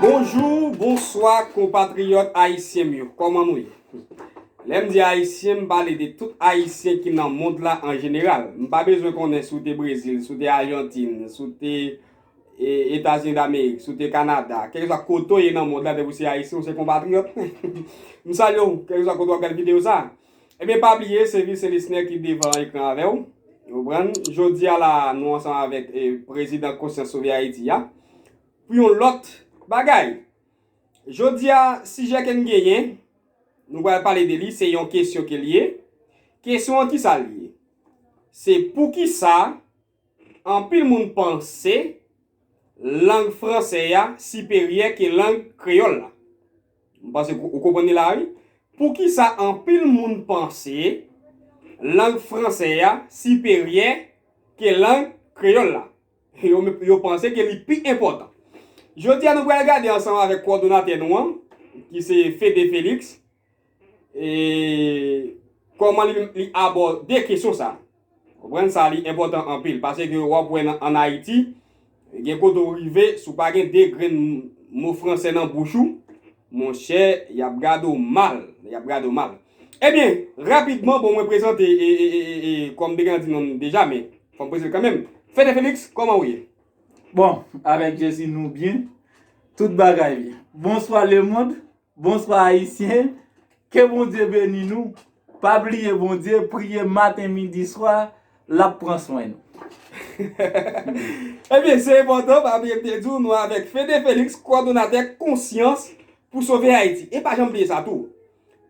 Bonjou, bonswa konpatriyòt ayisyen m yo, kòman nou ye? Lè m di ayisyen, m pale de tout ayisyen ki nan mond la an jeneral. M pa bezwen konnen si w te Brezil, si w te Ajantin, si w te. Etazini Damerik, si w te Kanada, kèlkeswa kote w ye nan mond la depi w se Ayisyen, w se konpatriyòt mwen. M salye w, kèlkeswa kote w ap gade videyo sa. Ebyen pa bliye se Vilsen Lisner ki devan ekran avè w. Ou konprann? Jodi a la a nou ansanm avèk Prezidan Konsyans Sove Ayiti a pou yon lòt bagay. Jodi a sijè ke n genyen, nou pral pale de li, se yon kesyon ke l ye. Kesyon an kisa l ye? Se poukisa? Anpil moun panse lang franse a siperyè ke lang kreyòl la. M panse ou konprann ni la wi. Poukisa anpil moun panse lang franse a siperyè ke lang kreyòl la? Yo panse ke li pi enpòtan. Jodi a nou pral gade ansanm avèk kòdonatè nou an ki se Fede Felix. Koman li abòde kesyon sa. Konprann sa li enpòtan anpil paske wap wè an Ayiti gen kote ou rive si w pa gen 2 grenn mo fransè nan bouch ou monchè yap gade w mal yap gade w mal ebyen rapidman bon mwen prezante kòm te gen nan di non m deja men fò m prezante l kanmenm Fede Felix kòman ou ye? Bon avèk Jezi nou byen tout bagay byen bonswa lemond Bonswa ayisyen, ke Bondye beni nou, pa bliye Bondye, priye maten midi swa, lap pran swen nou. Ebyen se enpòtan pa bliye m te di w nou avèk Fede Felix kwadonatè konsyans pou sove Ayiti e pa janm bliye sa tou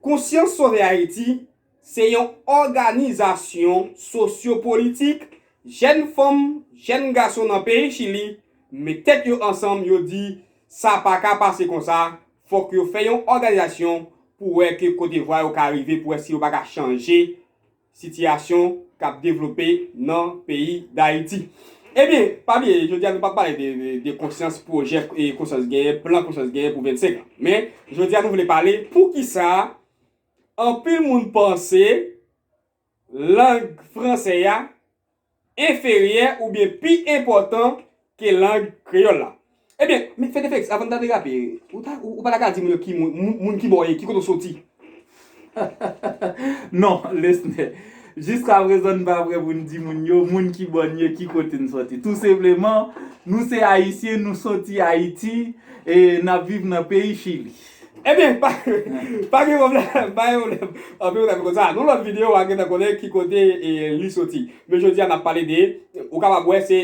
konsyans sove Ayiti Se yon òganizasyon sosyopolitik jèn fanm, jèn gason nan peyi Chili met tèt yo ansanm yo di sa pa ka pase konsa, fòk yo fè yon òganizasyon pou wè ke kote vwa yo ka rive pou wè si yo pa ka chanje sitiyasyon k ap devlope nan peyi Dayiti. Ebyen, pa bliye jodi a nou p ap pale de konsyans, pwojè konsyans genyen, plan konsyans genyen pou 25 an. Men, jodi a nou vle pale poukisa. Anpil moun panse lang franse a enferyè oubyen pi enpòtan ke lang kreyòl la. Ebyen, men fè defèks, avan n ta derape, ou ta, ou pa ta ka di moun yo ki moun, moun kibò w ye, ki kote w soti? Non, Lesne, jiskaprezan n pa prè pou n di moun yo moun kibò n ye, ki kote n soti. Tou senpleman, nou se Ayisyen, nou soti Ayiti, e n ap viv nan peyi Chili. Ebyen pa pa gen pwoblèm pa gen pwoblèm anpil moun ap konsa nan lòt video wa gentan konnen ki kote li soti men jodia nap pale de ou kapab wè se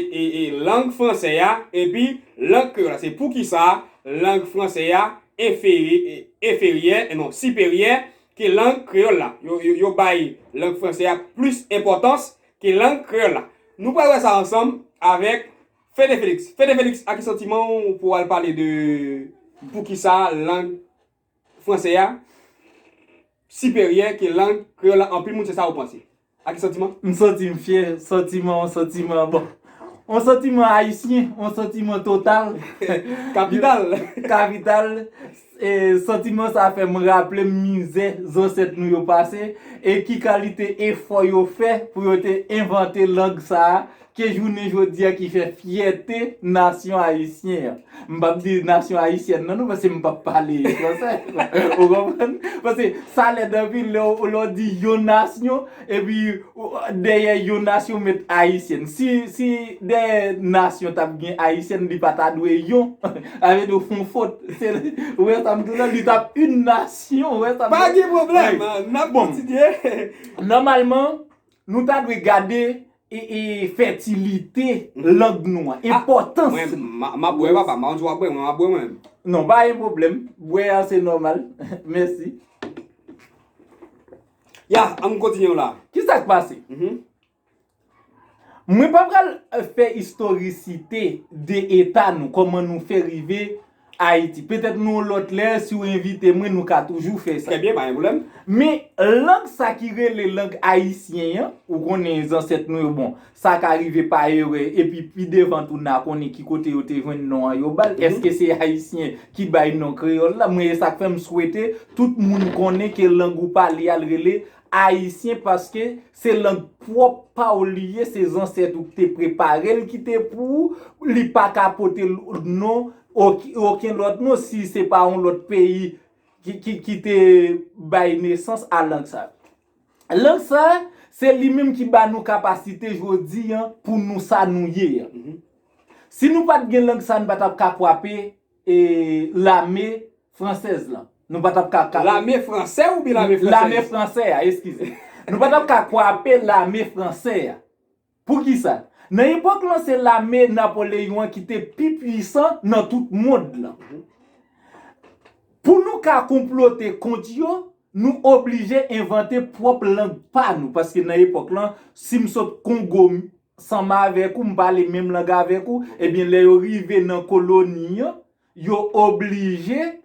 lang fransè a epi lang kreyòl la se poukisa lang fransè a enferyè non siperyè ke lang kreyòl la yo bay lang fransè a plis enpòtans ke lang kreyòl la nou pral wè sa ansanm avèk Fede Felix, Fede Felix a ki santiman w pou w al pale de poukisa lang franse a siperyè ke lang kreyòl la anpil moun se sa yo panse? A ki santiman? M santi m fyè, santiman yon santiman bon yon santiman ayisyen, yon santiman total. Kapital. Kapital. Santiman sa fè m raple m mizè zansèt nou yo pase e ki kalite efò yo fè pou yo te envante lang sa a ke jounen jodi a ki fè fyète nasyon ayisyen an. M p ap di nasyon ayisyèn nan non paske m p ap pale fransè. Ou konprann? Paske sa lèd anpil lè w di yon nasyon Epi dèyè yon nasyon met ayisyèn. Si dèyè nasyon tap gen ayisyèn li pa ta dwe yon. Sa vle di ou fon fot. Ou wè sa m di w la li tap yn nasyon ou wè sa m di w la. Pa gen pwoblèm n ap kontinye. Nòmalman nou ta dwe gade fètilite lang nou an. Enpòtans li. M ap bwè papa m pa konn si w ap bwè mwen m ap bwè mwen menm. Non pa gen pwoblèm. Bwè an se nòmal. Mèsi. Ya, an m kontinye w la. Ki sa k pase? Mwen pa pral fè istorisite de eta nou, kòman nou fè rive Ayiti. Petèt yon lòt lè, si w envite mwen, nou ka toujou fè sa. Trè byen, pa gen pwoblèm. Men, lang sa ki rele lang ayisyen an, ou konnen zansèt nou yo, bon, Sa ka rive pa erè epi pi devan tou na konnen ki kote yo te jwenn non an yo bal. Eske se Ayisyen ki bay non kreyòl la? Mwen e sak fè m swete tout moun konnen ke lang ou pale a l rele Ayisyen paske se lang pwòp pa w li ye, se zansèt ou ki te prepare l ki te pou ou, li pa ka pote non oken lòt non si se pa yon lòt peyi ki te bay nesans a lang sa. Lang sa, se li menm ki ba nou kapasite jodi an pou nou sa nou ye an. Si nou pa t gen lang sa, nou pa t ap ka kwape lame fransèz lan. Nou pa t ap ka. Lame fransè oubyen lame fransèz? Lame fransè a, eskize. Nou pa t ap ka kwape lame fransè a. Poukisa? Nan epòk lan se lame Napoleyon an ki te pi pwisan nan tout mond lan. Pou nou ka konplote kont yo, nou oblije envante pwòp lang pa nou. Paske nan epòk lan, si m sot Kongo m sanm avèk ou, m pale menm lang avèk ou, ebyen lè yo rive nan koloni an, Yo oblije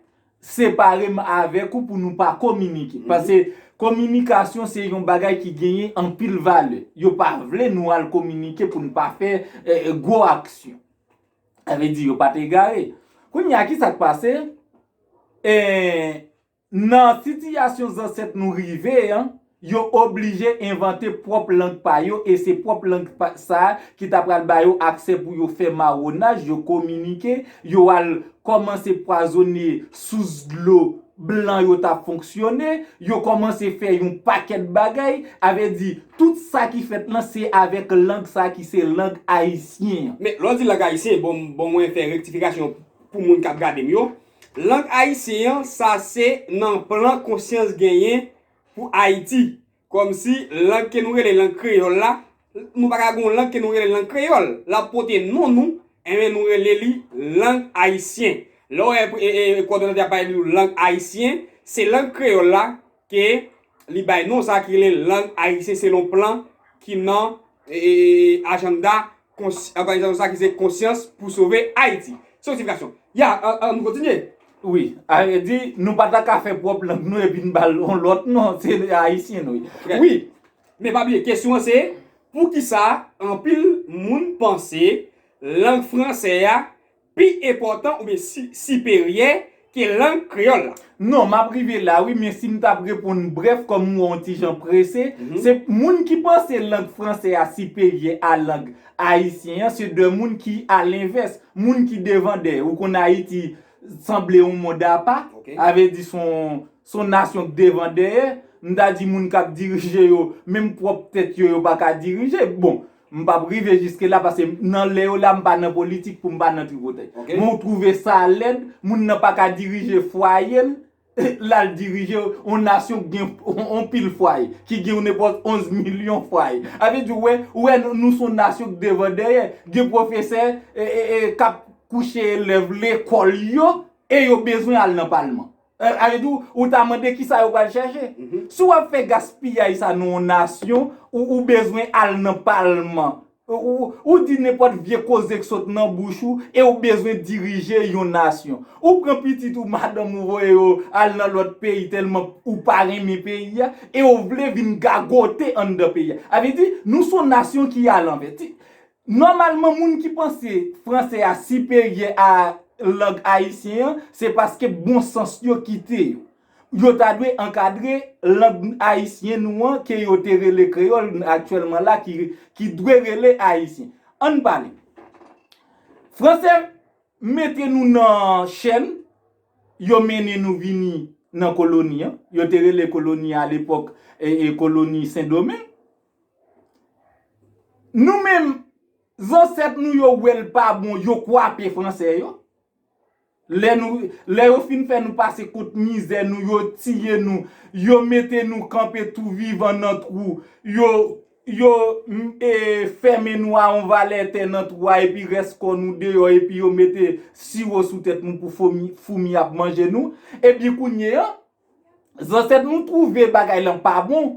separe m avèk ou pou nou pa kominike. Pase kominikasyon se yon bagay ki genyen anpil valè. Yo pa vle nou al kominike pou n pa fè gwo aksyon. Sa vle di yo pa t egare. Kounye a ki sa k pase? Nan sitiyasyon zansèt nou rive an, yo oblije envante pwòp lang pa yo e se pwòp lang sa a ki ta pral ba yo aksè pou yo fè mawonaj, yo kominike, yo al kòmanse pwazone sous dlo blan yo t ap fonksyone, yo kòmanse fè yon pakèt bagay. A vle di, tout sa ki fèt lan se avèk lang sa a ki se lang ayisyen an. Men, lè w di lang ayisyen, bon mwen fè rektifikasyon pou moun k ap gade m yo, Lang ayisyen an sa se nan plan konsyans genyen pou Ayiti. Kòmsi lang ke nou rele lang kreyòl la, nou pa ka gen yon lang ke nou rele lang kreyòl, l ap pote non nou, enben nou rele li lang ayisyen. Lè w wè kòdonatè a ap pale di ou lang ayisyen, se lang kreyòl la ke li bay non sa ki rele lang ayisyen selon plan ki nan ajannda Òganizasyon sa ki se Konsyans pou sove Ayiti. Se yon sifikasyon. Ya, ann kontinye. Wi. A vre di, nou pa ta ka fè pwòp lang nou epi n ba l yon lòt non. Se Ayisyen nou ye. Wi. Men pa bliye, kesyon an se, poukisa anpil moun panse lang franse a pi enpòtan oubyen siperyè ke lang kreyòl la? Non, m ap rive la wi, men si m t ap reponn brèf kòm m wè w yon ti jan prese, se moun ki panse lang fransè a siperyè a lang ayisyen an, se de moun ki alenvès, moun ki devan dèyè. Ou konn Ayiti sanble yon mond apa, sa vle di se yon nasyon ki devan dèyè, m ta di moun k ap dirije yo, menm pwòp tèt yo, yo pa ka dirije. Bon! M pap rive jiske la paske nan lè yo la m pa nan politik pou m pa nan tripotay. Men w twouve sa lèd, moun nan pa ka dirije fwaye l, l al dirije yon nasyon k gen yon pil fwaye, ki gen yon nenpòt 11 milyon fwaye. A vle di w wè, ou wè nou s on nasyon k devan dèyè. Gen pwofesè k ap kouche elèv lekòl yo e yo bezwen al nan palman. Ayiti ou ou ta mande kisa yo pral chache. Si wap fè gaspiyay sa nan yon nasyon ou ou bezwen al nan palman ou di nenpòt vye koze k sot nan bouch ou e ou bezwen dirije yon nasyon. Ou pran pitit ou madanm ou voye yo al nan lòt peyi tèlman ou pa renmen peyi a e ou vle vin gagote anndan peyi a. Avle di nou son nasyon ki alanvè. Nòmalman moun ki panse franse a siperyè a lang ayisyen an, se paske bon sans yo kite yo. Yo ta dwe ankadre lang ayisyen nou an ke yo te rele kreyòl aktyèlman la ki dwe rele ayisyen. An n pale. Franse mete nou nan chèn, yo mennen nou vini nan koloni an, yo te rele koloni a lepòk koloni sendomeng. Nou menm zansèt nou yo wè l pa bon yo kwape fransè yo. Lè yo fin fè nou pase kout mizè nou yo tiye nou. Yo mete nou kanpe tou vivan nan twou. Yo fèmen nou a yon valè tè nan twou a epi rès kò nou deyò epi yo mete siwo sou tèt nou pou foumi ap manje nou. Epi kounye an zansèt nou twouve bagay lan pa bon.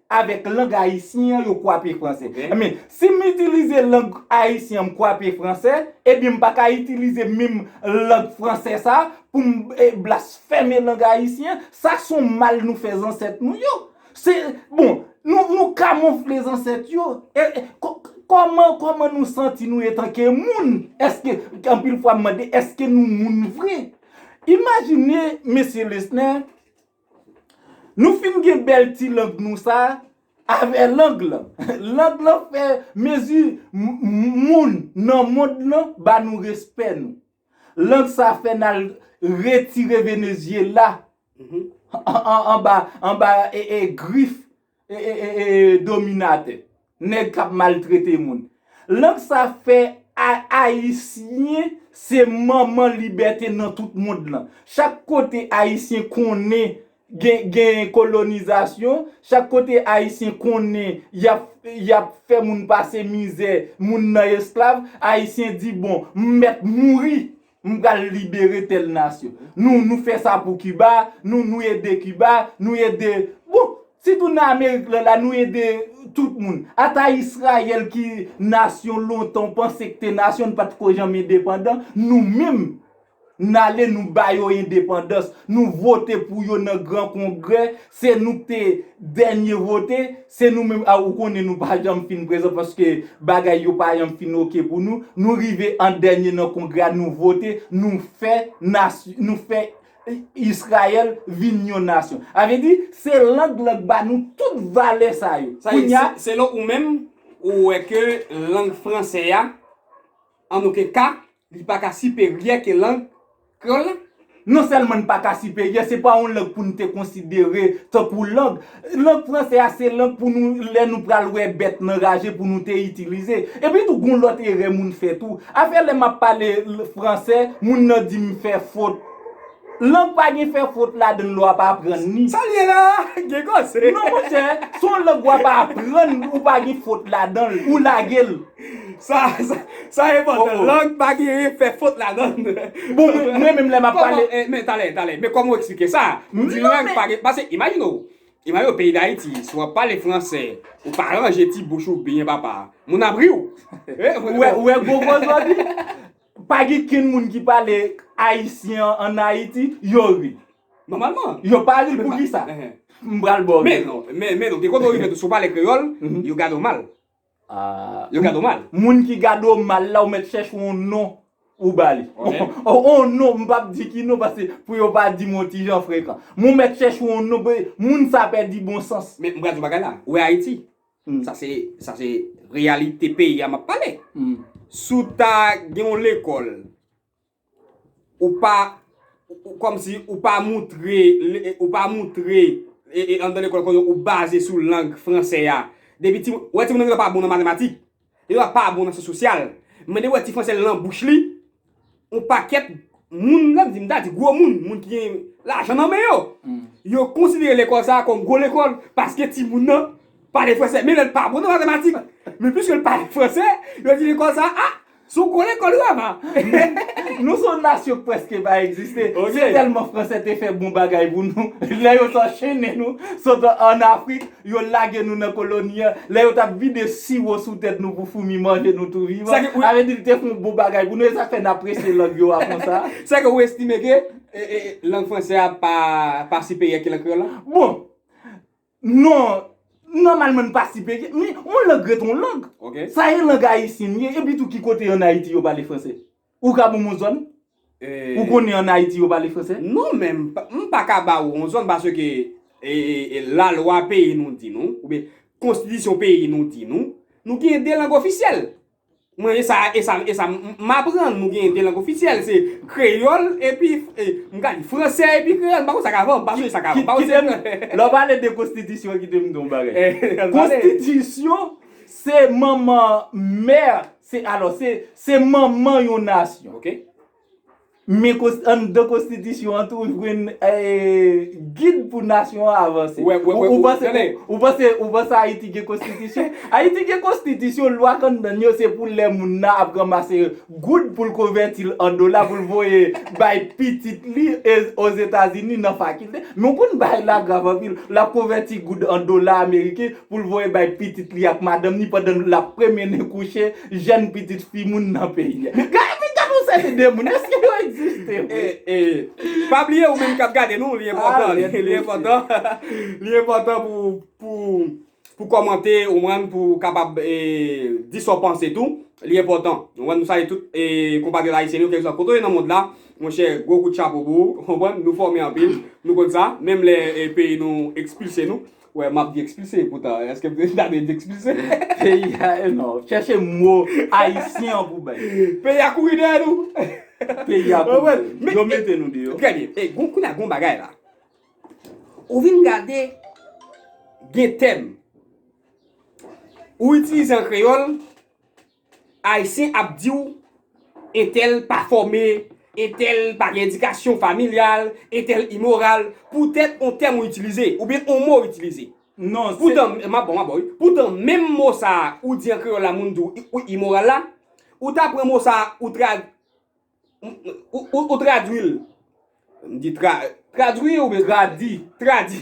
Avèk lang ayisyen an yo kwape franse. Ebyen, si m itilize lang ayisyen an m kwape franse, ebyen m pa ka itilize menm lang franse sa pou m blasfème lang ayisyen an. Sa s on mal nou fè zansèt nou yo. Se, bon, nou kamonfle zansèt yo. Kòman, kòman nou santi nou etanke moun? Eske, anpil fwa m mande, eske nou moun vre? Imajine, Mesye Lesner, Nou fin gen bèl ti lang nou sa avè lang lan. Lang lan fè mezi moun nan mond lan ba nou respè nou. Lang sa fè n al retire Venezyela anba grif. dominatè, nèg kap maltrete moun. Lang sa fè ayisyen se manman libète nan tout mond lan. Chak kote ayisyen konnen gen kolonizasyon, chak kote ayisyen konnen yap fè moun pase mizè, moun nan esklav, ayisyen di bon, m mèt mouri. M pral libere tèl nasyon. Nou nou fè sa pou Kiba, nou nou ede Kiba, nou ede. Bon, sitou nan Amerik lan la nou ede tout moun. Ata Israyèl ki nasyon lontan w panse k te nasyon n pa t ko janm endepandan, nou menm n ale nou ba yo endepandans, nou vote pou yo nan gran kongrè Se nou k te dènye vote, se nou menm a ou konnen nou pa janm fin prezan paske bagay yo pa janm fin ok pou nou, nou rive an dènye nan kongrè a nou vote, nou fè nasyon, nou fè Israël vin yon nasyon. A vle di, se lang lan k ba nou tout valè sa yo. Kounya. Selon ou menm, ou wè ke lang fransè a. An oken ka, li pa ka siperyè ke lang kreyòl la. Non sèlman n pa ka siperyè, se pa yon lang pou n te konsidere tankou lang. Lang franse a se lang pou nou, lè nou pral wè bèt nan raje pou nou te itilize. Epi tou gon lòt erè moun fè tou. Afè lè m ap pale franse, moun nan di m fè fot. Lang pa gen fè fot ladann lè w ap aprann li. Sa l ye la a? Gen koze. Non monchè, si yon lang w ap aprann ou pa gen fot ladan l, ou lage l. Sa, sa enpòtan. Lang pa gen fè fot ladan l. Bon, mwen menm lè m ap pale. Kòman, men talè, talè, men kòman ou eksplike sa? Ou di lang pa gen, pase imajine w, imajine w peyi Dayiti, si w ap pale franse, ou pa ranje ti bouch ou byen papa, moun ap ri w. Ou wè gwo koze w ap di? Pa gen kenn moun ki pale ayisyen an an Ayiti, yo ri. Nòmalman. Yo pa ri pou ki sa? M pral ba w rezon. Men, men, gen kote ou rive tou, si w pale kreyòl, yo gade w mal. Yo gade w mal. Moun ki gade w mal la, ou mèt chèche yon non ou ba li. Yon non, m pap di ki non paske pou yo pa di m yon ti jan frekan. Men w mèt chèche yon non, moun sa pèdi bon sans. Men, m pral di w yon bagay la. Ou wè Ayiti? Sa se sa se reyalite peyi a map pale. Si w ta gen yon lekòl, ou pa kòm si ou pa moutre ou pa moutre anndan lekòl kòm si ou baze sou lang fransè a depi timoun wè timoun nan yo pa bon nan matematik. Li va pa bon nan sans sosyal. Mwen te wè ti franse lan bouch li. On pakèt moun, lè m di m ta di gwo moun, moun ki gen lajan nan men yo. Yo konsidere lekòl sa a kòm gwo lekòl paske timoun nan pale franse. Men lè l pa bon nan matematik, men piske l pale franse, yo di lekòl sa a, se yon gwo lekòl rama. Nou se yon nasyon prèske pa egziste. Se tèlman franse te fè bon bagay pou nou. Lè yo te anchennen nou sot an Afrik Yo lage nou nan koloni an lè yo t ap vide siwo sou tèt nou pou foumi manje nou tou vivan. Sa vle di li te fè yon bon bagay pou nou. E sa k fè n apresye lang yo a konsa. Sa ke ou estime ke lang fransè a pa siperyè ke lang kreyòl la? Bon, non, nòmalman li pa siperyè. Men, yon lang ret yon lang. Sa e lang ayisyen li ye. Epitou ki kote an Ayiti yo pale fransè? Ou ka bonm on zòn? Ou konnen an Ayiti yo pale fransè? Non men m pa ka ba ou on zòn paske la lwa peyi nou di nou ou byen konstitisyon peyi nou di nou, nou gen 2 lang ofisyèl. Mwen e sa e sa e sa m aprann nou gen 2 lang ofisyèl se kreyòl epi m ka di fransè epi kreyòl m pa konn sa k avan m pa sonje sa k avan. Kite m lè w pale de konstitisyon kite m di w on bagay. Konstitisyon se manman mè Se alò, se, se manman yon nasyon. Ok. Men kons, anndan konstitisyon an tou ou jwenn, ee, gid pou nasyon an avanse. Wè, wè, wè, wè, wè, tande. Ou panse, ou panse, ou panse Ayiti gen konstitisyon? Ayiti gen konstitisyon, lwa k anndan l yo se pou lè moun nan ap ranmase goud pou l konvèti l an dola pou l voye bay pitit li e, Ozetazini nan fakilte. Men w konn bagay la grav anpil. L ap konvèti goud an dola ameriken pou l voye bay pitit li ak madanm ni pandan l ap pwemenen kouche jèn pitit fi moun nan peyi a. Gad yon seri de moun, èske yo egziste vre? Pa bliye ou menm k ap gade nou, li enpòtan, li enpòtan, li enpòtan pou, pou, pou kòmante, ou konprann, pou ou kapab di sa w panse tou, li enpòtan. Ou konprann, nou salye tout konpatriyòt ayisyen nou, kèlkeswa kote w ye nan mond la, monchè, gwo kout chapo pou ou, ou konprann, nou fòme anpil, nou konn sa, menm lè peyi nou ekspilse nou, Wè map di ekspilse epoutan eske m ta dwe di ekspilse? Peyi a e non. Chèche mo ayisyen an pou w bay. Peyi a kouri dèyè nou. Peyi a kouri dèyè nou. Yo mete nou deyò. Trè byen. E gon kounye a gon bagay la. Ou vin gade gen tèm ou itilize an kreyòl. Ayisyen ap di w entèl pa fòme, entèl pa gen edikasyon familyal, entèl imoral poutèt on tèm ou itilize oubyen on mo ou itilize. Poutan, m ap ba w, m ap ba w wi. Poutan menm mo sa a ou di an kreyòl la moun di w imoral la, ou ta pran mo sa a ou trad. Ou tradwi l. M di tra, tradwi oubyen tradi? Tradi.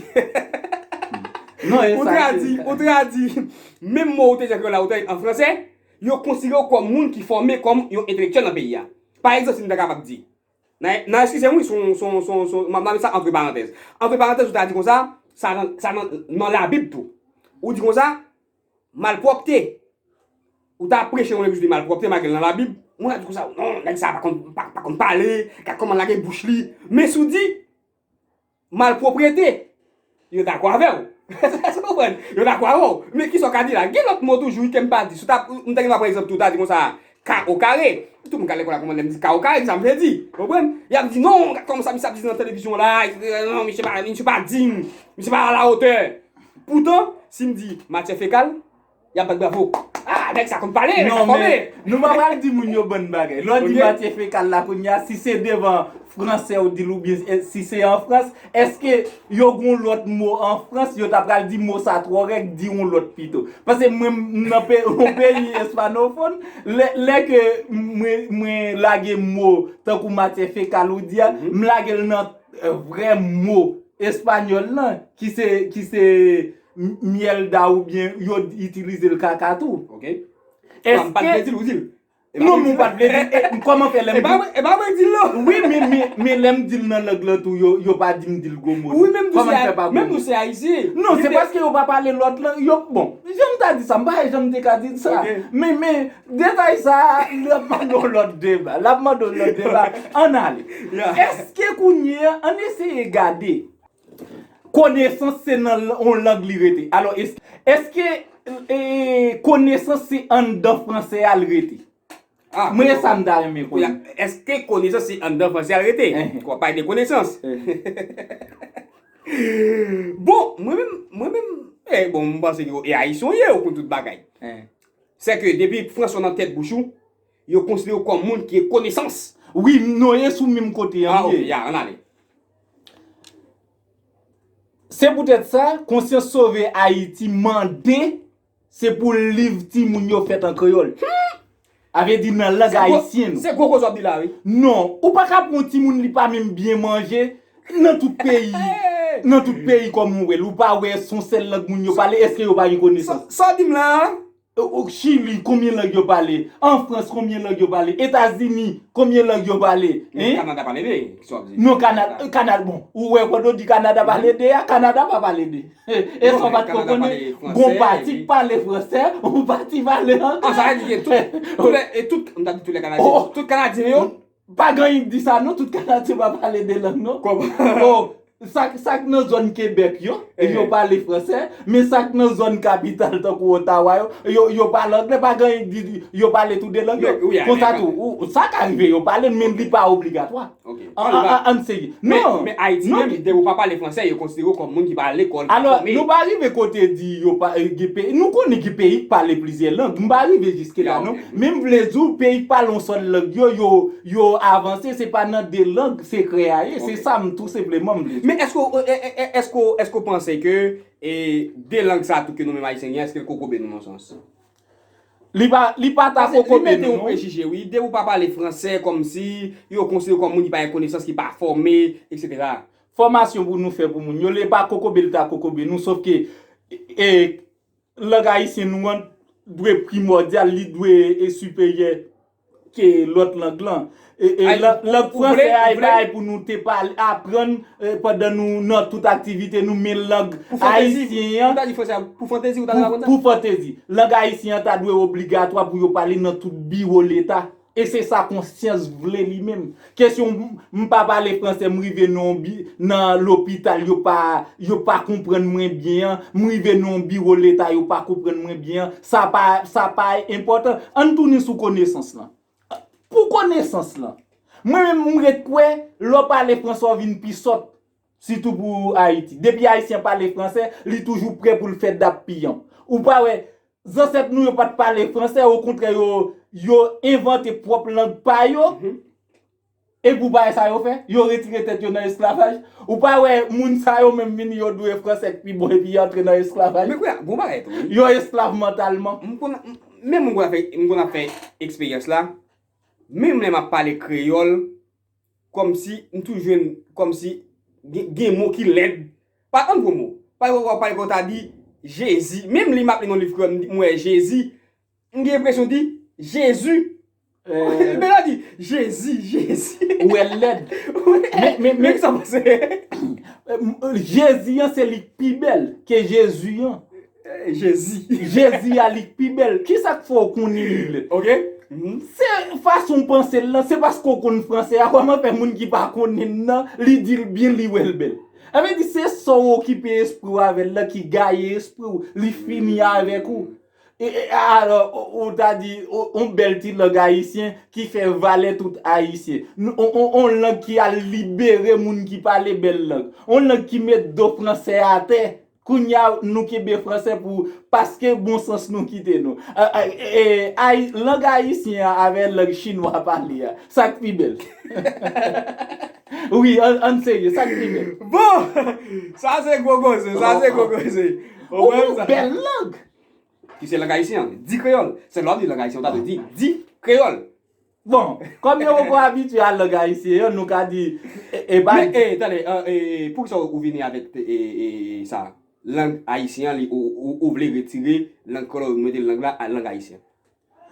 Non, e sa. Ou tradi, ou tradi. Menm mo ou te jwenn la ou te an franse, yo konsidere ou kòm moun ki fòme kòm yon entelektyèl nan peyi a. Pa egzanp, si m ta kapab di. Nan, nan eskize m wi, son, son, son, son, m ap mete sa antre parantèz. Antre parantèz ou ta di konsa, sa nan, sa nan, nan labib tou. Ou di konsa. Malpwòpte! Ou ta ap preche yon legliz de malpwòpte, malgre l nan Labib, moun ap di konsa, non, nèg sa a pa konn pale, gad kòman l lage bouch li. Men si w di, Malpwoprete! Yo dakò avè w. Èske w konprann? Yo dakò avè w. Men kisa w ka di la? Gen lòt mo toujou wi ke m pa di. M ta gen dwa pran egzanp tou, ta di konsa, K au carré! Tout moun k al lekòl la konprann lè m di K au carré ki sa m vle di. Ou konprann? Y ap di, non, gad kòman sa misye ap di nan televizyon la, non, misye pa, misye pa digne, misye pa à la hauteur. Poutan, si m di matière fécale, y ap bat bravo. A, nèg sa konn pale, nèg sa fòme! Non, men, nou pa pral di moun yo bon bagay. Lè w di matière fécale la kounye a, si se devan Franse ou di l oubyen si se an Frans, Eske yo gon lòt mo an Frans yo ta pral di mo sa twò règ di yon lòt pito. Pase mwen m nan yon peyi espanofòn lè ke mwen lage mo tankou matyè fekal ou di a m lage l nan vrè mo espanyòl lan ki se myèlda oubyen yo itilize l kaka tou. Ok. Sa m pa t vle di l ou di l. Non mwen pat vle di e kòman fè lèm di. E pa mwen dil non. Wi men lèm dil nan lang lan tou yo pa dim dil gwo mo non. Kòman fè pa gwo mo. Menm nou se ayisyen. Non se paske yo pa pale lòt lang yo bon. Janm ta di sa m pa wè janm te ka di sa. Men men detay sa lap mande yon lòt deba. Lap mande yon lòt deba. Ann ale. Eske kounye an eseye gade. Konesans se nan yon lang li rete. Alò, èske konesans se anndan franse a l rete? Mwen e sa m ta renmen konnen. Èske konesans se anndan franse a l rete? W ap pale de konesans. Bon, mwen menm, mwen menm, e bon, m panse ke e Ayisyen w ye, ou konn tout bagay. Se ke depi franse w nan tèt bouch ou, yo konsidere w kòm moun ki gen konesans. Wi, nou ye sou menm kote an. A, ok, ya, an n ale. Se poutèt sa, Konsyans Sove Ayiti mande se pou liv timoun yo fèt an kreyòl. A vle di nan lang ayisyen. Se gwo koze w ap di la wi. Non, ou pa ka pou yon timoun li pa menm byen manje nan tout peyi, nan tout peyi kòm ou wè l, ou pa wè son sèl lang moun yo pale, èske yo pa gen konesans? Sa w di m la a, Chili konbyen lang yo pale? An Frans konbyen lang yo pale? Etazini konbyen lang yo pale? Men Kanada pale 2, kisa wap di? Non Kanada, bon ou wè kote ou di Kanada pale 2 a, Kanada pa pale 2. E sa w pat ko konnen, gon pati ki pale fransè, yon pati pale anglè. An sa vle di ke tout, tout lè, tout, m ta di tout lè kanadyen, tout kanadyen yo. Pa gen anyen ki di sa non, tout Kanadyen pa pale 2 lang non. Bon, sa k nan zòn Kebèk yo, yo pale franse, men sa k nan zòn kapital tankou Ottawa yo, yo pale angle, pa gen anyen ki di yo pale tou 2 lang yo. Konsa tou, sa ka rive yo pale l men li pa obligatwa. Ann serye. Men Ayiti menm, depi ou pa pale franse, yo konsidere w kòm moun ki pa al lekòl, ki pa fòme. Alò, nou pa rive kote di yo pa, gen peyi, nou konnen gen peyi ki pale plizyè lang, m pa rive jiske la non. Men m vle di w peyi k pale yon sèl lang yo, yo avanse se pa nan 2 lang sekrè a ye, se sa m tou senpleman m vle di. Men èske w panse ke 2 lang sa tou ke nou menm Ayisyen gen èske l kokobe nou nan yon sans? Li pa ta kokobe nou non. Paske li mete yon prejije wi, depi w pa pale fransè kòmsi yo konsidere w kòm moun ki pa gen konesans, ki pa fòme, etc. Fòmasyon pou nou fè pou moun yo, li pa kokobe li ta kokobe nou sof ke Lang ayisyen nou an dwe primòdyal, li dwe siperyè ke lòt lang lan. Lang franse a e bagay pou nou te aprann pandan nou nan tout aktivite nou men lang ayisyen an. Pou fantezi ou ta dwe aprann sa? Pou fantezi. Lang ayisyen an ta dwe obligatwa pou yo pale nan tout biwo leta. E se sa konsyans vle li menm. Kesyon m pa pale fransè m rive nan lopital yo pa yo pa konprann mwen byen an, m rive nan yon biwo leta yo pa konprann mwen byen an, sa pa sa pa enpòtan. Ann tounen sou konesans lan. Pou konesans lan. Mwen menm m ret kwè lè w pale fransè w vin pi sòt. Sitou pou Ayiti. Depi Ayisyen pale franse, li toujou pre pou l fè dappiyanp. Ou pa wè, zansèt nou yo pa t pale franse, okontrè yo envante pwòp lang pa yo. E pou bagay sa yo fè? Yo retire tèt yo nan esklavaj. Ou pa wè moun sa yo menm vini yo dwe franse k pi bon epi y antre nan esklavaj. Men kounya, gon bagay tou wi. Yo esklav mantalman. M konn, menm m konn ap fè eksperyans la, menm lè m ap pale kreyòl. Kòmsi m tou jwenn kòmsi gen mo ki lèd pa tann gwo mo pa yo wè yo ta di jezi menm li m ap li nan liv kreyòl m wè jezi m gen enpresyon di jezu men la di jezi jezi ou wè l lèd men kisa w panse jezi an se li k pi bèl ke jezu an. Jezi. Jezi a li k pi bèl. Kisa k fè w konnin li bèl? Ok. Se fason w panse l lan, se paske w konn franse a, kòman fè moun ki pa konnin l lan, li di l byen, li wè l bèl? Sa vle di se sa w okipe espri w avè l lan ki gaye espri w, li fini avèk ou. Alò, ou ta di, yon bèl ti lang ayisyen ki fè valè tout ayisyen. Yon lang ki al libere moun ki pale bèl lang. Yon lang ki met do franse atè. Kounya nou kenbe fransè pou paske bon sans nou kite nou. Ay lang ayisyen an avè lang chinwa pale a, sak pi bèl? Wi ann serye sak pi bèl? Bon! Sa se gwo koze, sa se gwo koze. Ou gen yon bèl lang! Ki se lang ayisyen an. Di kreyòl. Sèl lè w ap di lang ayisyen ou ta dwe di di kreyòl. Bon, kòm yo poko abitye a lang ayisyen an, nou ka di, e pa. Men, ee, tande, ee, poukisa ou vini avèk, ee, sa a? Lang ayisyen an, li, ou vle retire lang kreyòl la, ou mete lang la, lang ayisyen an?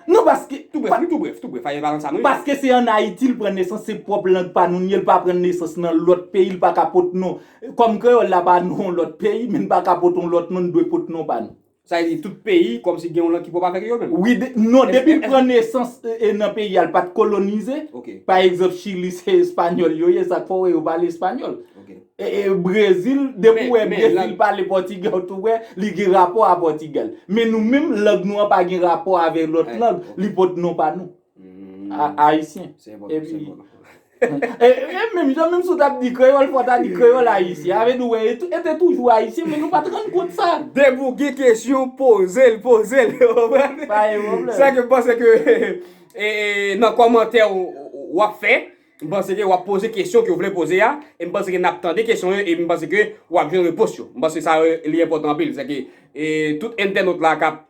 Non, paske. Tou brèf, wi, tou brèf, tou brèf, fayè pa nan sa nou ye. Paske se an Ayiti l pran nesans, se pwòp lang pa nou n ye, l pa pran nesans nan lòt peyi, l pa ka pot non. Kòm kreyòl la pa non lòt peyi, men n pa ka pot on lòt non, n dwe pot non pa nou. Sa vle di tout peyi komsi gen yon lang ki pwop avek yo menm? Wi, non depil pran nesans nan peyi al pat kolonize, pa egzanp chili se espanyòl yo ye sak fè wè yo pale espanyòl. Brezil depi wè brezil pale pòtigè ou tou wè li gen rapò a pòtigè. Men nou menm lang nou an pa gen rapò avè lòt lang, li pot non pa nou. Ayisyen. Se bon, se bon. E menm jan menm si w tap di kreyòl fò w ta di kreyòl ayisyen. A vle di wè e te toujou ayisyen men nou pat rann kont sa. Depi w gen kesyon poze l, poze l. Ou konprann? Pa gen pwoblèm. Sa ke m panse ke nan kòmantè w ap fè, m panse ke w ap poze kesyon ke w vle poze a, e m panse ke n ap tande kesyon yo e m panse ke w ap jwenn repons yo. M panse sa li enpòtan anpil. Sèke tout entènot la kap.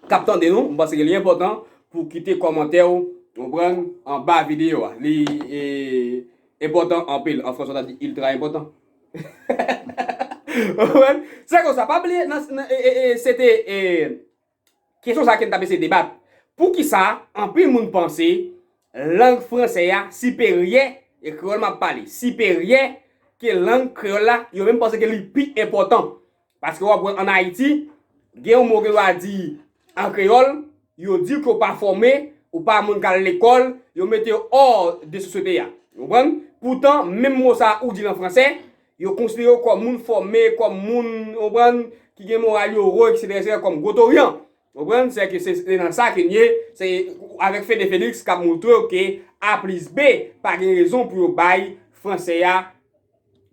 kap tande nou, m panse ke li enpòtan pou kite kòmantè ou konprann anba videyo a li enpòtan anpil an fransè ou ta di iltra enpòtan ou konprann se konsa pa bliye nan se te kesyon sa ke n tap eseye debat poukisa anpil moun panse lang fransè a siperyè e kreyòl map pale siperyè ke lang kreyòl la yo menm panse ke li pi enpòtan Paske wap wè an Ayiti, gen yon mo ke yo a di an kreyòl, yo di ke w pa fòme, ou pa moun k al lekòl, yo mete yo hors de sosyete a. Ou konprann? Poutan, menm mo sa a ou di l an franse, yo konsidere w kòm moun fòme, kòm moun, ou konprann, ki gen moral yo wo, eksetera, eksetera, kòm gwo toryan. Ou konprann? Se ke se nan sa ke n ye, se avèk Fede Felix k ap montre w ke A plis B pa gen rezon pou yo bay franse a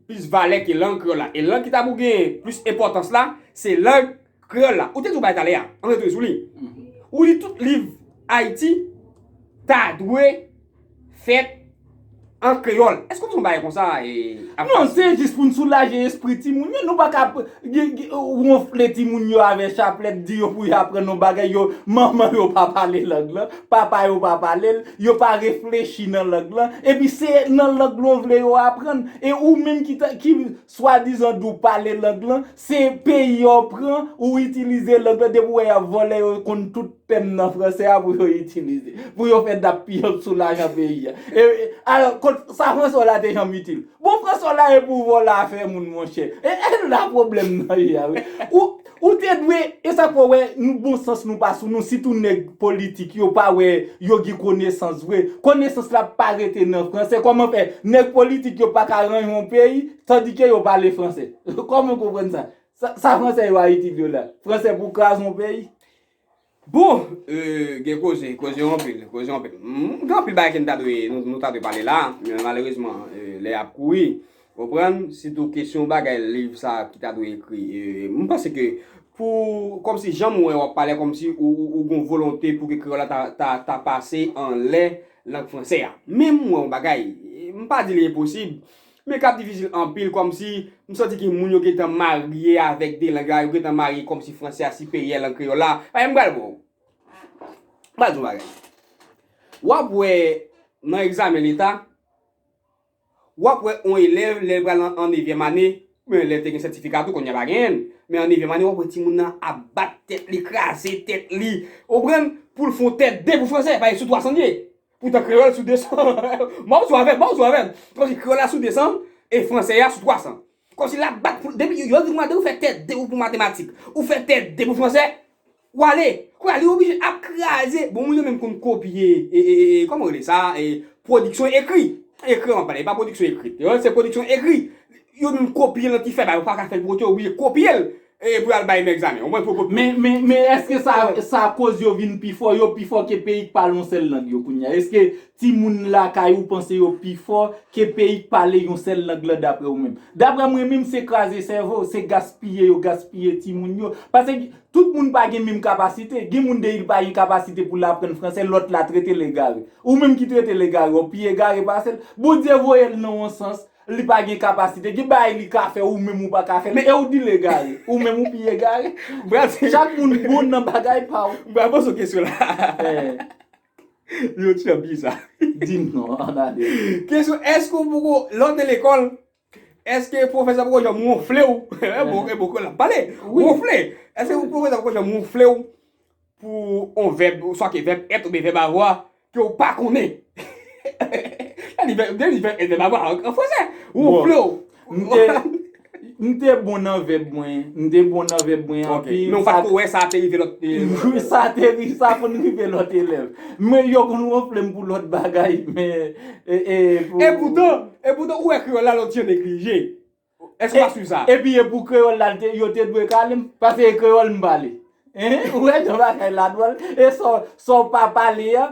plis valè ke lang kreyòl la. E lang ki ta pou gen plis enpòtans la, se lang kreyòl la. Ou te di w bay talè a, an rete sou li, ou di tout liv Ayiti ta dwe fèt an kreyòl. Èske w konn yon bagay konsa? Non, se jis pou n soulaje espri timoun yo. Nou pa ka wonfle timoun yo avèk chaplèt, di yo pou yo aprann yon bagay yo, manman yo pa pale lang lan. Papa yo pa pale l, yo pa reflechi nan lang lan, epi se nan lang nou vle yo aprann. E ou menm ki ta, ki swadizan di w pale lang lan, se peyi yo pran, ou itilize lang lan, depi w wè y ap vòlè yo konn tout tèm nan franse a pou yo itilize. Pou yo fè dappiyanp sou lajan peyi a. E, alò, kot, sa franse w la te janm itil? Bon franse w la e pou vòlè afè moun monchè. E, e la pwoblèm nan ye a wi. Ou. Ou te dwe, e sa fè w wè nou bon sans nou pa sou nou sitou nèg politik yo pa wè yo gen konesans vre, konesans la pa rete nan fransè kòman fè nèg politik yo pa ka ranyon yon peyi tandike yo pale fransè kòman w konprann sa sa fransè yo a itil yo la fransè pou kraze yon peyi Bon! Eeuh gen koze, koze yo anpil, koze yo anpil. Humm gen anpil bagay ke nou ta dwe, nou ta dwe pale la, men malerezman lè a ap kouri. Ou konprann? Sitou kesyon bagay liv sa ki ta dwe ekri. M panse ke pou, kòmsi jan m wè w ap pale a kòmsi ou gen yon volonte pou ke kreyòl la ta, ta pase anlè lang franse a. Men m wè yon bagay, m pa di li enposib, Men kap difisil anpil kòmsi m santi ki moun yo gentan marye avèk 2 lang la yo gentan marye kòmsi fransè a siperyè lang kreyòl la pagen m pral bon ou m pral di w bagay wap wè nan egzamen leta wap wè on elèv lèl pral nan an nevyèm ane oubyen elèv te gen sètifika tou kounya pa genyen l men an nevyèm ane wap wè timoun nan ap bat tèt li kraze tèt li ou konprann poul fon tèt 2 pou fransè pagen sou 300 l ye. Poutan kreyòl la sou 200. Mòp sou avè m, mòp sou avè m. Kòmsi kreyòl la sou 200 e franse a sou 300. Kòmsi l ap bat pou l. Depi yo yo vin mande ou fè tè 2 pou matematik, ou fè tè 2 pou franse, w ale. Kounye a li oblije ap kraze. Bon moun yo menm konn kopye e, e, e, kòman rele sa, e, pwodiksyon ekri. Ekri m ap pale, e pa pwodiksyon ekrit. Se pwodiksyon ekri. Yo menm kopye l nan ti fè ba yo pa ka fè l pou kont yo, yo oblije kopye l. Eye pou yal bay nèg zame. Ou konprann pou kont moun. Men men eske sa sa koz yo vin pi fò, yo pi fò ke peyi k pale yon sèl lang yo kounya? Eske timoun lakay ou panse yo pi fò ke peyi k pale yon sèl lang lan daprè ou menm? Daprè mwen menm se kraze sèvo, se gaspiye yo gaspiye timoun yo. Pase tout moun pa gen menm kapasite. Gen moun deyil pa gen kapasite pou l aprann fransè, lòt la trete l egare. Ou menm ki trete l egare, ou pi egare pase l? Bondye voye l nan yon sans. Li pa gen kapasite. Gen bagay li ka fè ou menm ou pa ka fè. Men e ou di l egare. Ou menm ou pi egare. Bravo. Chak moun bon nan bagay pa w. Bravo sou kesyon la. Yon ti jan biza. Di m non, an ale. Kesyon, Èske ou poko, lè w te lekòl, èske pwofesè poko janm wonfle w? E bon, e bon, kou la ap pale. Wonfle. Èske pwofesè poko janm wonfle w? Pou on vèb, swa ke vèb èt oubyen vèb avwa, ke ou pa konnen. Sa di vèb, vle di vèb èt, vèb avwa an fransè. Wonfle w. M te, m te bon nan vèb mwen. M te bon nan vèb mwen anpil. Ok. Men ou pa t ko wè sa te rive lòt elèv la. Wi, sa te rive, sa konn rive lòt elèv. Men yo konn wonfle m pou lòt bagay, men, e, e pou. Epoutan, epoutan ou wè kreyòl la lòt jan neglije. Èske w pa swiv sa? Epi e pou kreyòl la l te, yo te dwe kale m? Pase e kreyòl m pale. Hein? Ou wè jan bagay la dwòl? E sa w, sa w pa pale a,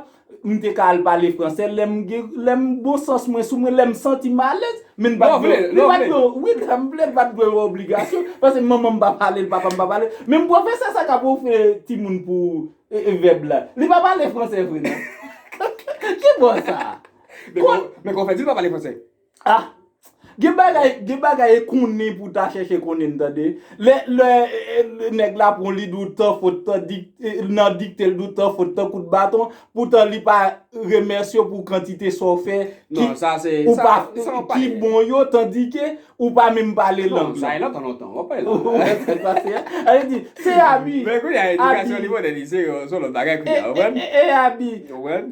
m te ka al pale fransè lè m gen, lè m bon sans mwen sou mwen, lè m santi m alèz. Men m pa t dwe, li pa t dwe, wi lè m vle, li pa t dwe yon obligasyon. Pase manman m pa pale l, papa m pa pale l. Menm pwofesè sa k ap ofri timoun pou vèb la, li pa pale fransè vre non. Ki bon sa? Men kòman w fè di l pa pale fransè? Ah! Gen bagay, gen bagay e konnen pou ta chèche konnen n tande. Lè, lè nèg la pran w li di w tan fot, tan dik, nan dikte l di w tan fot, tan kout baton, poutan li pa remèsye w pou kantite sa w fè ki, ou pa, ki bon yo tandi ke ou pa menm pale lang lan. Sa e lontan lontan, w ap pale la. Ou wè sa k pase a? A e di, se abi, abi. Men kounye a edikasyon li pote li se yon, se yon lòt bagay kounye a, ou konprann? E abi. Ou konprann?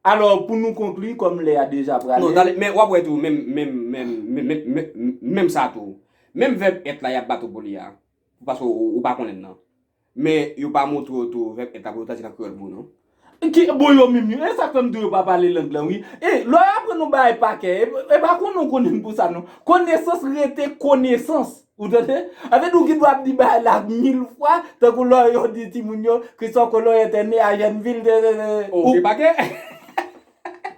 Alò, pou nou konkli, kòm lè a deja prale. Non, tande, men, w ap wè tou, menm, menm, menm, menm, menm sa tou, menm vèb èt la y ap bat ou pou li a, paske ou pa konnen l nan, men yo pa montre w tou vèb èt la pou yo tradui l an kreyòl pou ou non. Ki, bon, yo menm yo. E sa k fè m di w yo pa pale lang lan wi. E, lè w aprann yon bagay pakè, e pa konnen w konnen l pou sa non. Konesans rete konesans. Ou tande? Anfen nou gendwa ap di bagay la mil fwa, tankou lò yo di timoun yo, Christophe Colon était né à Jenneville, tètètè. Oh, depa gen.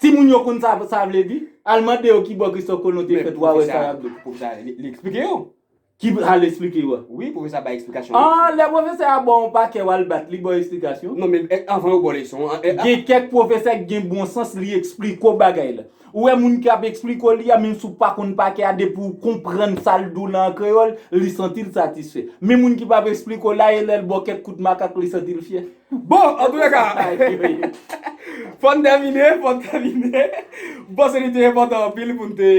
Timoun yo konn sa sa vle di? Al mande yo ki bò Christophe Colon te fèt wa wè sa yap di. Men pwofesè a, pwofesè a li eksplike yo. Ki al eksplike yo a? Wi, pwofesè a bay eksplikasyon yo. Ah, lè pwofesè a ba w yon pakè wal bat li ba w eksplikasyon? Non men anvan yo ba w leson an. Gen kèk pwofesè ki gen bon sans li eksplike w bagay la. Ou wè moun ki ap esplike w li a menm si w pa konn pa kè a depi w konprann sa l di w lan an kreyòl li santi l satisfè. Men moun ki pa p esplike w la e lè l ba w kèk kout makak li santi l fyè. Bon, antoulèka, fò n tèmine, fò n tèmine. M panse li te enpòtan anpil pou n te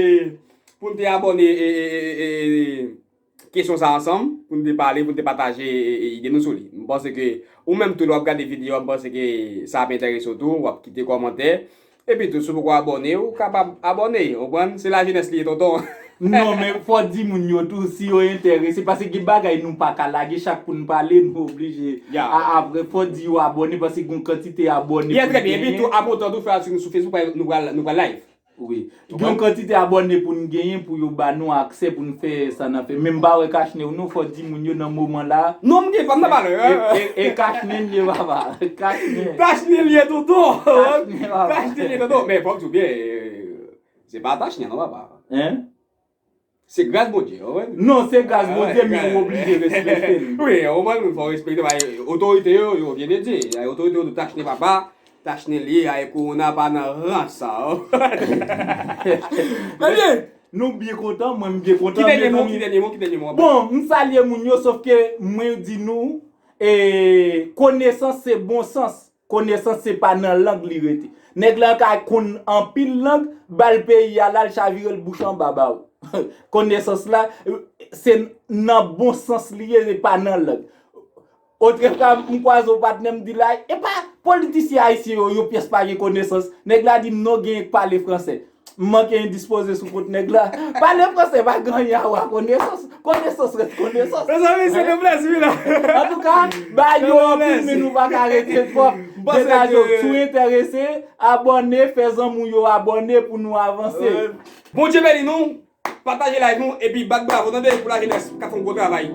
pou n te abòne e. kesyon sa ansanm pou nou te pale, pou nou te pataje ide nou sou li. M panse ke ou menm tou lè w ap gade videyo a m panse ke sa ap enterese w tou, w ap kite kòmantè. Epi tou si w poko abòne ou kapab abòne, ou konprann, se lajenès li ye tonton. Non men fò w di moun yo tou si yo enterese paske gen bagay nou pa ka lage chak pou nou pale nou oblije a apre fò w di yo abòne paske gen yon kantite abòne pou l genyen. Yes trè byen epi tou apotan tou fè atik nou sou Facebook paske nou pral live. Wi. Gen yon kantite abòne pou n genyen pou yo ba nou aksè pou n fè sa n ap fè. Men m pa wè kachne w non. Fò w di moun yo nan moman la. Non m gen pa m nan pale. E kachne l ye papa. Kachne. Kachne l ye tonton. Kachne papa. Kachne l ye tonton. Men fò m di w byen. Se pa tachne non papa. Hein? Se gras Bondye ou konprann? Non se gras Bondye men ou oblije respekte l. Wi ou konprann ou fò respekte paske otorite yo yo vye de Dye. Otorite yo tou tachne papa, tachne lye a e kowona pa nan ran sa ou konprann? Ebyen nou byen kontan mwen m byen kontan. Ki dènye mo ki dènye mo ki dènye mo. Bon m salye moun yo sof ke mwen di nou e konesans se bon sans. Konesans se pa nan lang li rete. Nèg la ka konn anpil lang, ba l peyi a la l chavire l bouch anba ba w. Konesans la se nan bon sans li ye e pa nan lang. Otrefwa m kwaze yon patnè m di l a, epa politisyen ayisyen yo yon pyès pa gen konesans. Nèg la di m non genyen k pale fransè. M manke endispoze sou kot nèg la. Pale franse pa ganyen a wa konesans. Konesans ret konesans. Mezanmi se te plezi wi la. Antouka, ba yo anpil men nou pa ka rete twòp. Detaj yo tou enterese. Abòne, fè zanmi w yo abòne pou nou avanse. Bondye beni nou, pataje live nou epi bat bravo tande pou lajenès kap fè yon gwo travay.